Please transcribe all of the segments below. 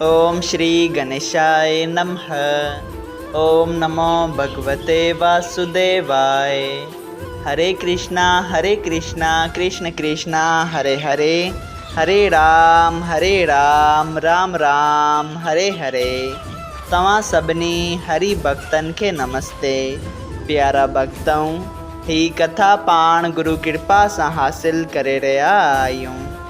اوم شري گنيشائي نمه اوم نمو ڀڳوتي واسوديوائي هري ڪرشنا هري ڪرشنا ڪرشن ڪرشنا هري هري هري رام هري رام رام رام هري هري توهان سڀني هري ڀڳتن کي نمستي پيارا ڀڳتؤ هي ڪٿا پاڻ گرو ڪرپا سان حاصل ڪري رهيا آهيون.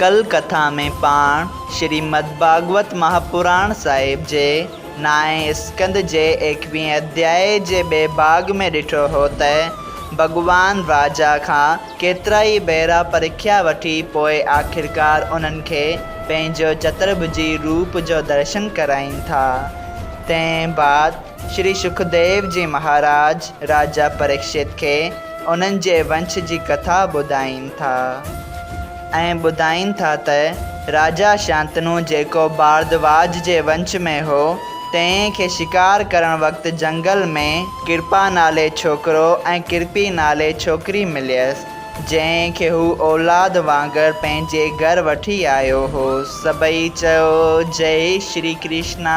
ڪل ڪٿا ۾ پاڻ شريمد ڀاڳوت مهاپراڻ صاحب جي نائين اسڪند جي ايڪويهين اڌيائي جي ٻئي ڀاڳ ۾ ڏٺو هو ته ڀڳوان راجا کان ڪيترائي ڀيرا پرکيا وٺي پوء آخرڪار انهن کي پنهنجو چترڀجي روپ جو درشن ڪرائين ٿا. تنهن بعد شري سکديو جي مهاراج راجا پريڪشت کي انهن جي ونش جي ڪٿا ٻڌائين ٿا. ۽ ٻڌائين ٿا ته راجا شانتنو جيڪو ڀاردواج جي ونش ۾ هو، تنهن کي شڪار ڪرڻ وقت جهنگل ۾ ڪرپا نالي ڇوڪرو ۽ ڪرپي نالي ڇوڪري مليس، جنهن کي هو اولاد وانگر پنهنجي گهر وٺي آيو هو. سڀئي چيو، جئي شري ڪرشنا!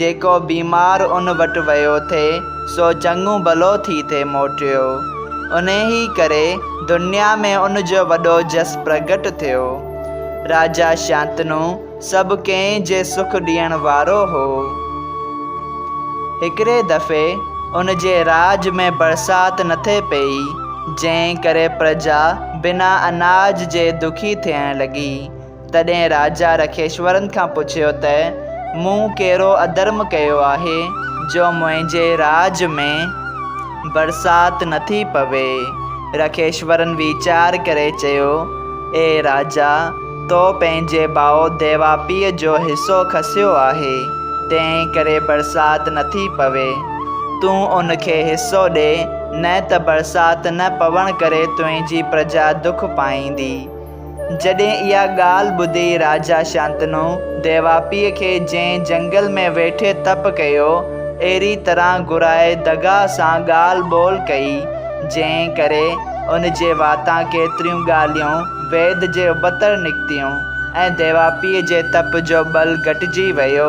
جيڪو بيمار ان وٽ ويو ٿي، سو چڱو ڀلو ٿي ٿي موٽيو. انهيء ڪري دنيا ۾ ان جو وڏو جس پرگهٽ ٿيو. راجا شانتنو سڀ ڪنهن جي سک ڏيڻ وارو هو. هڪڙي دفعي ان جي راڄ ۾ برسات نٿي پئي، جنهن ڪري پرجا بنا اناج جي دکي ٿيڻ لڳي. تڏهن راجا رکيشورن کان پڇيو ته، مون ڪهڙو اڌرم ڪيو آهي جو منهنجي راڄ ۾ برسات نٿي پوي؟ رکيشورن ويچار ڪري چيو، اي راجا! تو پنهنجي ڀاء ديواپيء جو حصو کسيو آهي، تنهن ڪري برسات نٿي پوي. تون ان کي حصو ڏي، نه ته برسات نه پوڻ ڪري تنهنجي پرجا دک پائيندي. جڏهن اها ڳالهه ٻڌي راجا شانتنو ديواپيء کي جنهن جهنگل ۾ ويٺي تپ ڪيو، اهڙي طرح گهرائي دغا سان ڳالهه ٻولهه ڪئي، جنهن ڪري ان جي واتان ڪيتريون ڳالهيون ويد جي ابتڙ نڪتيون ۽ ديواپيء جي تپ جو ٻل گهٽجي ويو.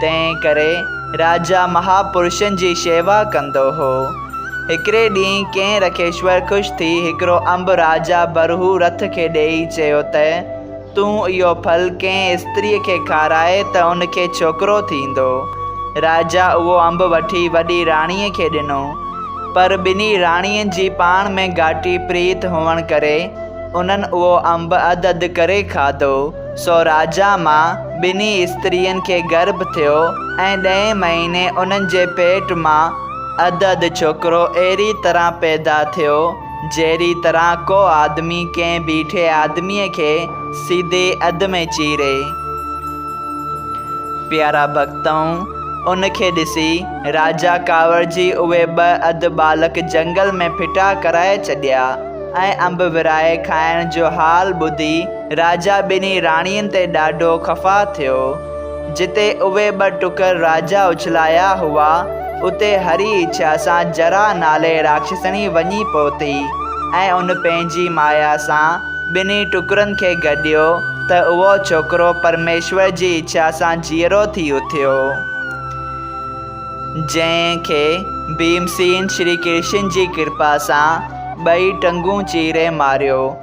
تنهن ڪري راجا مها پرشن جي شيوا ڪندو هو. هڪڙي ڏينهن ڪنهن رکيشور خوش ٿي هڪڙو انب راجا برهو رٿ کي ڏيئي چيو ته، تون اهو ڦل ڪنهن استريء کي کارائي ته ان کي ڇوڪرو ٿيندو. راجا اهو انب وٺي وڏي راڻيء کي ڏنو. پر ٻنهي راڻين جي پاڻ ۾ گهاٽي پريت هئڻ ڪري انهن اهو انب اڌ اڌ ڪري کاڌو. سوراجا مان ٻنهي استرين کي گرڀ ٿيو ۽ ڏهين مهيني انهن جي پيٽ مان اڌ اڌ ڇوڪرو اهڙي طرح پيدا ٿيو جهڙي طرح ڪو آدمي ڪنهن بيٺي آدميء کي سيڌي اڌ ۾ چيري. پيارا ڀڳتؤن! ان کي ڏسي راجا ڪاوڙجي اهي ٻه اڌ ٻالڪ جهنگل ۾ ڦٽا ڪرائي ڇڏيا ۽ انب ورهائي کائڻ جو حال ٻڌي، راجا ٻنهي راڻين تي ڏاڍو خفا ٿيو. جتي اهي ٻه ٽڪر راجا اڇلايا هئا، اتي هري اڇا سان جرا نالي راکشسڻي وڃي پهتي ۽ ان پنهنجي مايا سان ٻنهي ٽڪرن کي گڏيو ته اهو ڇوڪرو پرميشور جي اڇا سان جيئرو ٿي اٿيو. جنهن کي ڀيمسين شري ڪرشن جي ڪرپا سان ٻئي ٽنگون چيري ماريو.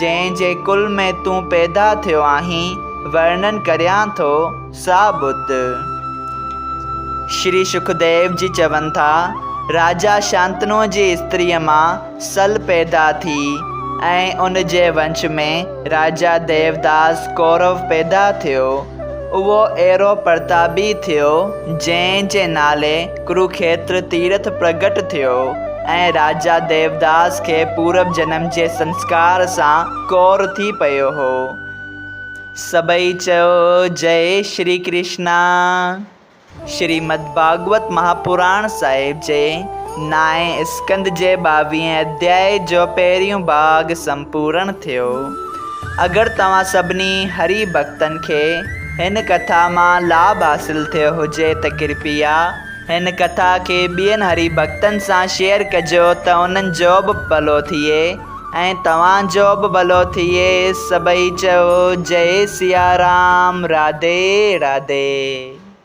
جنهن جي ڪل ۾ تون پيدا ٿيو آهين، ورنن ڪريان ٿو سا ٻڌ. شري شڪديو جي چون ٿا، راجا شانتنوء جي استريء مان سل پيدا ٿي ۽ ان جي ونش ۾ راجا ديوداس ڪورو پيدا ٿيو. اهو اهڙو پرتابي ٿيو، جنهن جي نالي ڪروکيتر تيرٿ پرڳٽ ٿيو ۽ راجا ديوداس کي پورب جنم جي سنسڪار سان ڪور ٿي پيو هو. سڀئي چئو جئي شري ڪرشنا. شريمد ڀاڳوت مهاپراڻ صاحب جي نائين اسڪند جي ٻاويهين اڌيائي جو پهريون ڀاڳ سمپورڻ ٿيو. اگر توهان سڀني هري ڀڳتن کي هن ڪٿا مان لاڀ حاصل ٿيو هجي ته ڪرپيا هن ڪٿا کي ٻين هري ڀڳتن سان شيئر ڪجو ته انهن جو به ڀلو ٿئي ۽ توهان جو به ڀلو ٿئي سڀئي چئو جئي سيارام راڌي راڌي.